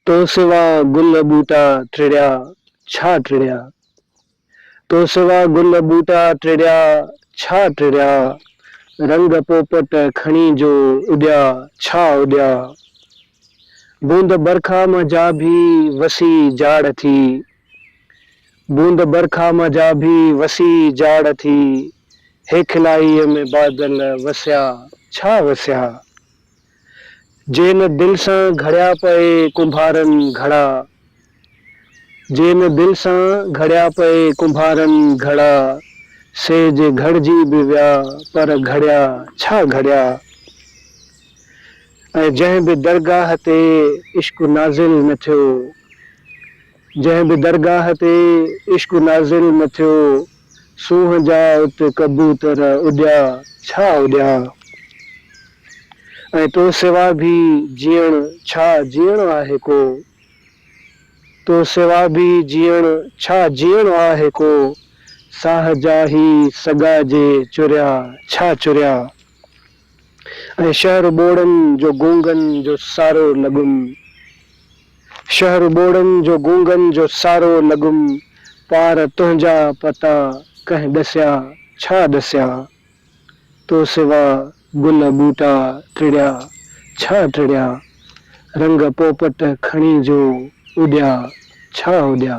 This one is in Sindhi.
تو سوا گل ٻوٽا ٽڙيا ڇا ٽڙيا تو سوا گل ٻوٽا ٽڙيا ڇا ٽڙيا رنگ پوپٽ کڻي جو اڏيا ڇا اڏيا بوند برکا مان جا ڀي وسي جاڙ ٿي بوند برکا مان جا ڀي وسي جاڙ ٿي هيکلائيء ۾ بادل وسيا ڇا وسيا جين دل سان گهڙيا پئي ڪنڀارن گهڙا جين دل سان گهڙيا پئي ڪنڀارن گهڙا سي جي گهڙجي به ويا پر گهڙيا ڇا گهڙيا. ۽ جنهن به درگاهه تي عشق نازل نه ٿيو، جنهن به درگاهه تي عشق نازل نه ٿيو، سونهن جا ات ڪبوتر اڏيا ڇا اڏيا؟ ۽ تو سوا به جيئڻ ڇا جيئڻو آهي ڪو؟ تو سوا به جيئڻ ڇا جيئڻو آهي ڪو؟ ساهه جا هي سڳا جي چريا ڇا چريا؟ ۽ شهر ٻوڙن جو گونگن جو سارو لڳم شهر ٻوڙن جو گونگن جو سارو لڳم پار تنهنجا پتا ڪنهن ڏسيا ڇا ڏسيا تو سوا گل ٻوٽا ٽڙيا ڇا ٽڙيا رنگ پوپٽ کڻي جو اڏيا ڇا اڏيا.